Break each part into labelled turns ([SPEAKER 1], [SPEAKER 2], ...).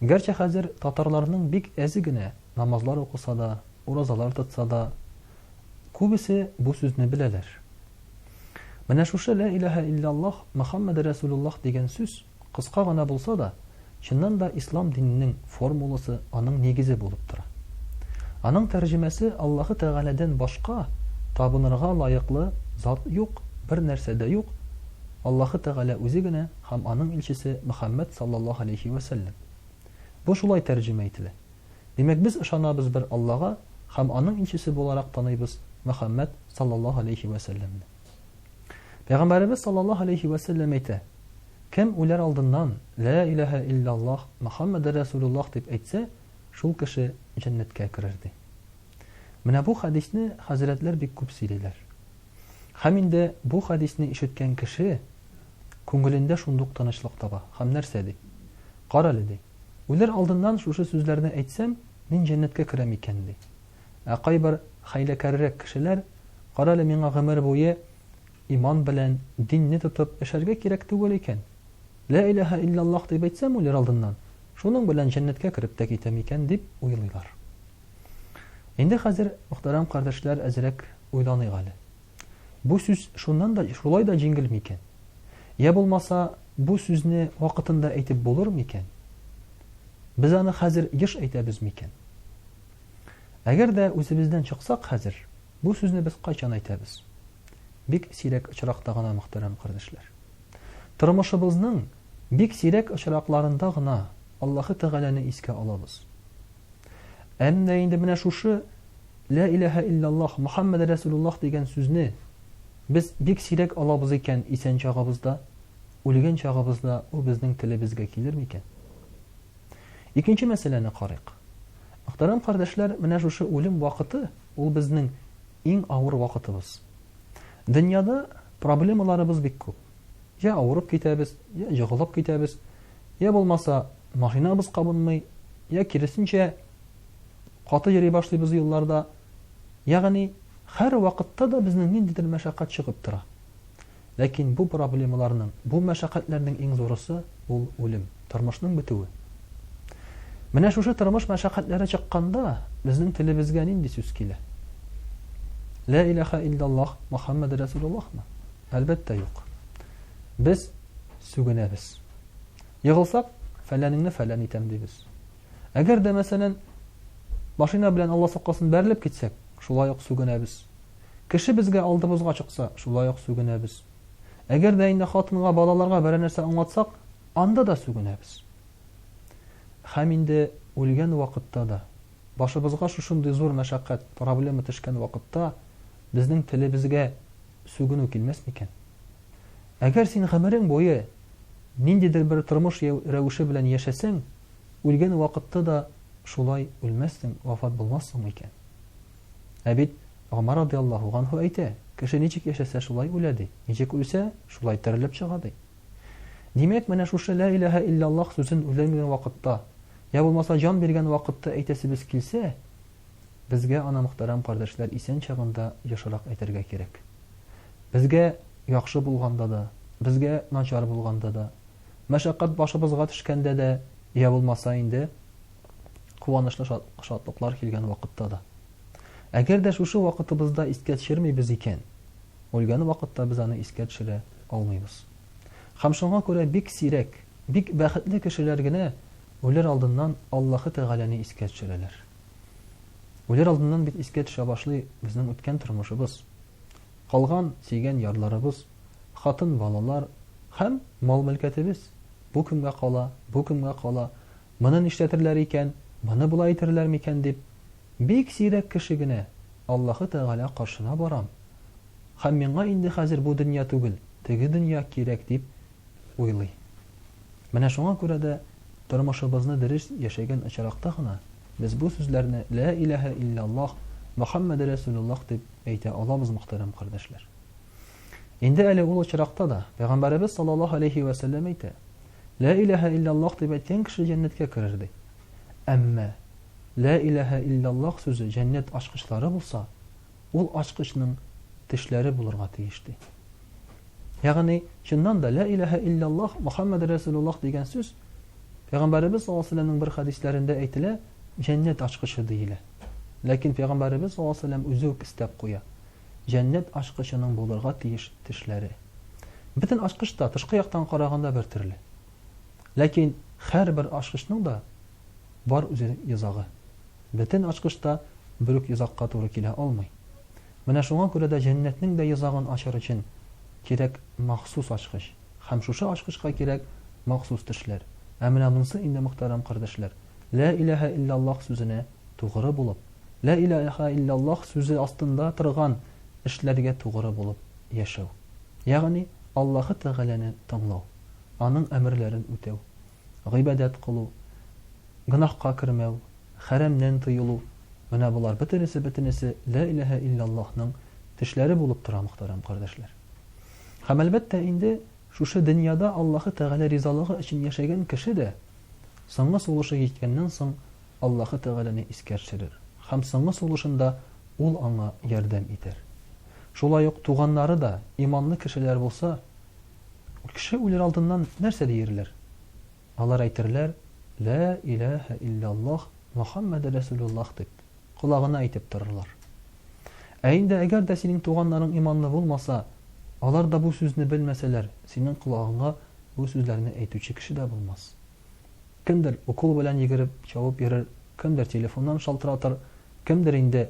[SPEAKER 1] Гәрчә хәзер татарларның бик әзе генә намазлар укыса да, уразалар тотса да, күбесе бу сүзне беләләр. Менә шушы лә иләһә илляллаһ Мөхәммәд Рәсулуллаһ дигән сүз кыска гына булса да, чыннан да ислам диненең формуласы, аның нигезе булып тора. Аның тәрҗемәсе Аллаһы Тәгаләдән башка табынырга лаеклы зат юк, бер нәрсә дә юк. Аллаһы Тәгалә үзе генә Һәм Аның илчесе Мөхәммәд салләллаһу галәйһи вә сәлләм. Бу шулай тәрҗемә ителә. Димәк, без ышанабыз бер Аллага һәм Аның илчесе буларак таныйбыз Мөхәммәд салләллаһу галәйһи вә сәлләмне. Пәйгамбәребез салләллаһу галәйһи вә сәлләм әйтә, Кем үләр алдыннан, Лә иләһә илләллаһ, Мөхәммәдәр рәсүлүллаһ дип әйтсә, шул кеше җәннәткә керер, ди. Менә бу хәдисне хәзрәтләр бик күп сөйлиләр. Һәм инде бу хәдисне ишеткән кеше Күңелендә шундук тынычлык таба һәм нәрсә ди? Карале, ди, үләр алдыннан шушы сүзләрне әйтсәм, мин җәннәткә керәм икән, ди. Ә кайбер хәйләкәррәк кешеләр, Карале, миңа гомер буе иман белән, динне тотып эшәргә кирәк түгел икән. Лә иләһә илляллаһ дип әйтсәм үләр алдыннан, шуның белән җәннәткә кереп тә китәм икән, дип уйлыйлар. Инде хәзер, мөхтәрәм кардәшләр, әзрәк уйланыйк әле. Бу сүз шуннан да шулай да җиңел микән? Я булмаса, бу сүзне вакытында әйтеп булыр микән? Без аны хәзер еш әйтәбез микән? Әгәр дә үзебездән чыксак хәзер, бу сүзне без кайчан әйтәбез? Бик сирәк очракта гына, мөхтәрәм кардәшләр. Тормышыбызның бик сирәк очракларында гына Аллаһы Тәгаләне искә алабыз. Әмма инде менә шушы Лә иләһә илляллаһ Мөхәммәд рәсүлуллаһ дигән сүзне без бик сирәк алабыз икән исән чагыбызда, үлгән чагыбызда ул безнең телебезгә килер микән? Икенче мәсьәләне карыйк. Мөхтәрәм кардәшләр, менә шушы үлем вакыты ул безнең иң авыр вакытыбыз. Дөньяда проблемаларыбыз бик күп. Я авырып китәбез, я егылып китәбез, я булмаса Машинабыз кабынмый, йә киресенчә, каты йөри башлыйбыз юлларда. Ягъни, һәрвакытта да безнең ниндидер мәшәкать чыгып тора. Ләкин бу проблемаларның, бу мәшәкатьләрнең иң зурысы, ул үлем, тормышның бетүе. Менә шушы тормыш мәшәкатьләре чыкканда, безнең телебезгә нинди сүз килә? Лә иләха илляллаһ Мөхәммәде Рәсүлуллаһмы? Әлбәттә, юк. Без сүгенәбез. Егылсак, фәләнеңне фәлән итәм дибез. Әгәр дә, мәсәлән, машина белән Алла сакласын бәрелеп китсәк, шулай ук сүгенәбез. Кеше безгә алдыбызга чыкса, шулай ук сүгенәбез. Әгәр дә инде хатынга, балаларга берәр нәрсә аңлатсак, анда да сүгенәбез. Хәм инде үлгән вакытта да, башыбызга шушындый зур мәшәкать, проблема төшкән вакытта, безнең телебезгә сүгенү килмәс микән? Әгәр син гомерең буе ниндидер бер тормыш рәвеше белән яшәсәң, үлгән вакытта да шулай үлмәссең, вафат булмассың микән? Ә бит Гомар радиаллаһу ганһу әйтә, кеше ничек яшәсә, шулай үлә ди, ничек үлсә, шулай терелеп чыга ди. Димәк, менә шушы лә иләһә илляллаһ сүзен үлгән вакытта, я булмаса җан биргән вакытта әйтәсебез килсә, Безгә аны мөхтәрәм кардәшләр исән чагында ешрак әйтергә кирәк. Безгә яхшы булганда да, безгә начар булганда да, мәшәкать башыбызга төшкәндә дә, йә булмаса инде, куанычлы шатлыклар килгән вакытта да. Әгәр дә шушы вакытыбызда искә төшермибез икән, үлгән вакытта без аны искә төшерә алмыйбыз. Һәм шуңа күрә бик сирәк, бик бәхетле кешеләр генә Үләр алдыннан Аллаһы Тәгаләне искә төшерәләр. Үләр алдыннан бит искә төшә башлый безнең үткән тормышыбыз, калган сөйгән ярларыбыз, хатын, балалар һәм мал-мөлкәтебез. Бу кемгә кала, бу кемгә кала, моны нишләтерләр икән, моны болай итерләр микән дип, бик сирәк кеше генә Аллаһы Тәгалә каршына барам һәм миңа инде хәзер бу дөнья түгел, теге дөнья кирәк дип уйлый. Менә шуңа күрә дә тормышыбызны дөрес яшәгән очракта гына без бу сүзләрне Лә иләһә илляллаһ, Мөхәммәде рәсүлуллаһ дип әйтә алабыз, мөхтәрәм кардәшләр. Инде әле ул очракта да Пәйгамбәребез саллаллаһу алейһи вә сәлләм әйтә, Лә иләһә илляллаһ дип әйткән кеше җәннәткә керер ди. Әмма Лә иләһә илляллаһ сүзе җәннәт ачкычлары булса, Ул ачкычның тешләре булырга тиеш, ди. Ягъни, чыннан да, Лә иләһә илляллаһ, Мөхәммәд рәсүлуллаһ дигән сүз, Пәйгамбәребез саллаллаһу алейһи ва сәлләмнең бер хәдисләрендә әйтелә, җәннәт ачкычы диелә. Ләкин Пәйгамбәребез саллаллаһу алейһи ва сәлләм үзе үк өстәп куя, Җәннәт ачкычының булырга тиеш тешләре. Бөтен ачкыч та тышкы яктан караганда бер төрле. Ләкин һәрбер ачкычның да бар үзенең йозагы. Бөтен ачкыч та бер үк йозакка туры килә алмый. Менә шуңа күрә дә җәннәтнең дә йозагын ачыр өчен кирәк махсус ачкыч. Һәм шушы ачкычка кирәк махсус тешләр. Ә менә монсы инде, мөхтәрәм кардәшләр, Лә иләһә илляллаһ сүзенә тугры булып, Лә иләһә илляллаһ сүзе астында торган эшләргә тугры булып яшәү. Ягъни Аллаһы Тәгаләне тыңлау. аның әмерләрен үтәү, гыйбадәт кылу, гөнаһка кермәү, хәрәмнән тыелу, менә болар бөтенесе-бөтенесе Лә иләһә илляллаһның тешләре булып тора, мөхтәрәм кардәшләр. Һәм, әлбәттә, инде шушы дөньяда Аллаһы Тәгалә ризалыгы өчен яшәгән кеше дә соңгы сулышы җиткәннән соң Аллаһы Тәгаләне искәршерер һәм соңгы сулышында Ул аңа ярдәм итәр. Шулай ук туганнары да иманлы кешеләр булса, Кеше үлер алдыннан нәрсә диерләр? Алар әйтерләр, Лә иләһә илляллаһ, Мөхәммәде рәсүлүллаһ дип, колагына әйтеп торырлар. Ә инде әгәр дә синең туганнарың иманлы булмаса, алар да бу сүзне белмәсәләр, синең колагыңа бу сүзләрне әйтүче кеше дә булмас. Кемдер укол белән йөгереп, чабып йөрер, кемдер телефоннан шалтыратыр, кемдер инде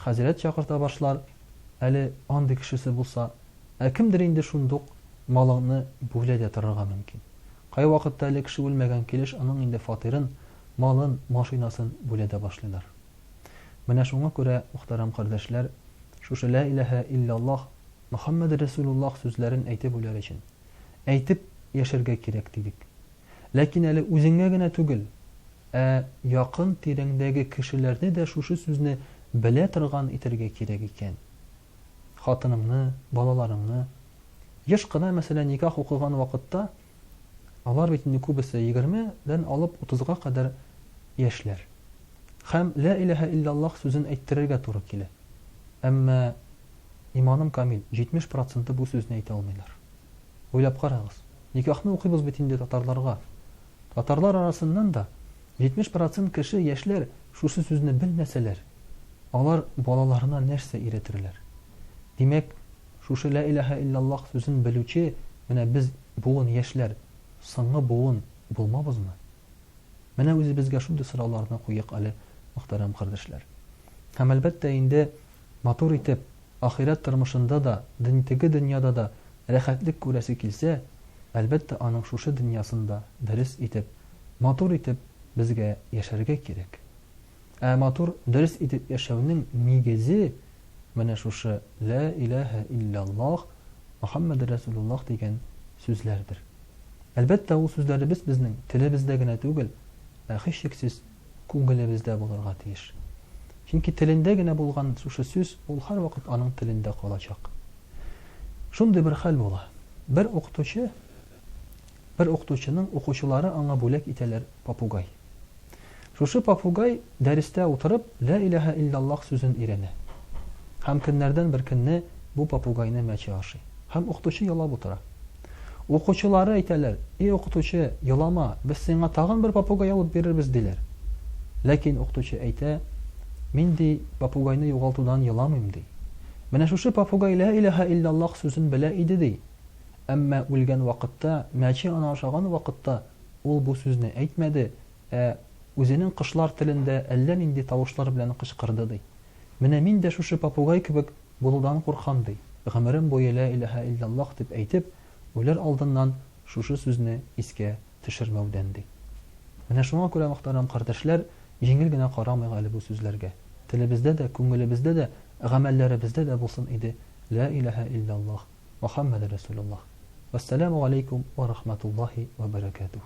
[SPEAKER 1] хәзрәт чакырта башлар, әле андый кешесе булса, Ә кемдер инде шундук малыңны бүлә дә торырга мөмкин. Кайвакытта әле кеше үлмәгән килеш аның инде фатирын, малын, машинасын бүлә дә башлыйлар. Менә шуңа күрә, мөхтәрәм кардәшләр, шушы лә иләһә илляллаһ, Мөхәммәде рәсүлуллаһ сүзләрен әйтеп үләр өчен, әйтеп яшәргә кирәк, дидек. Ләкин әле үзеңә генә түгел, ә якын тирәңдәге кешеләрне дә шушы сүзне белә торган итәргә кирәк икән. хатыныңны, балаларыңны. Еш кына, мәсәлән, никах укыган вакытта, алар бит инде күбесе егерме дән алып утызга кадәр яшьләр. Хәм лә иләһә иллаллаһ сүзен әйттерергә туры килә. Әмма, иманым камил, җитмеш проценты бу сүзне әйтә алмыйлар. Уйлап карагыз, никахны укыйбыз бит инде татарларга. Татарлар арасыннан да 70 процент кеше, яшьләр, шушы сүзне белмәсәләр, алар балаларына нәрсә өйрәтерләр? Димәк, шушы Лә иләһә илляллаһ сүзен белүче менә без буын яшьләр, соңгы буын булмабызмы? Менә үзебезгә шундый сорауларны куйыйк әле, мөхтәрәм кардәшләр. Һәм, әлбәттә, инде. Матур итеп, ахирәт тормышында да, дөньтеге дөньяда да рәхәтлек күрәсе килсә, әлбәттә, аның шушы дөньясында дөрес итеп, матур итеп безгә яшәргә кирәк. Ә матур, дөрес итеп яшәүнең нигезе менә шушы Лә иләһә илляллаһ, Мөхәммәде рәсүлуллаһ дигән сүзләрдер. Әлбәттә, ул сүзләребез безнең телебездә генә түгел, ә һичшиксез, күңелебездә булырга тиеш. Чөнки телендә генә булган шушы сүз, ул һәрвакыт аның телендә калачак. Шундый бер хәл була. Бер укытучы, бер укытучының укучылары аңа бүләк итәләр попугай. Шушы попугай дәрестә утырып, лә иләһә иллаллах сүзен өйрәнә. Һәм көннәрдән бер көнне бу попугайны мәче ашый. Һәм укытучы ялап утыра. Укучылары әйтәләр, Эй укытучы, елама, без сиңа тагын бер попугай алып бирербез, диләр. Ләкин укытучы әйтә, Мин ди, попугайны югалтудан еламыйм, ди. Менә шушы попугай Лә иләһә илляллаһ сүзен белә иде, ди. Әмма үлгән вакытта, мәче аны ашаган вакытта, ул бу сүзне әйтмәде, ә үзенең кошлар телендә әллә нинди тавышлар белән кычкырды, ди. Менә мин дә шушы попугай кебек Булудан куркам, ди. Гомерем буе лә иләһә илляллаһ дип әйтеп, үләр алдыннан шушы сүзне искә төшермәүдән, ди. Менә шуңа күрә, мөхтәрәм кардәшләр, җиңел генә карамыйк әле бу сүзләргә. Телебездә дә, күңелебездә дә, гамәлләребездә дә булсын иде лә иләһә илляллаһ, Мөхәммәде рәсүләллаһ. Вәссәламү галәйкүм вә рахмәтуллаһи вә бәрәкәтүһ.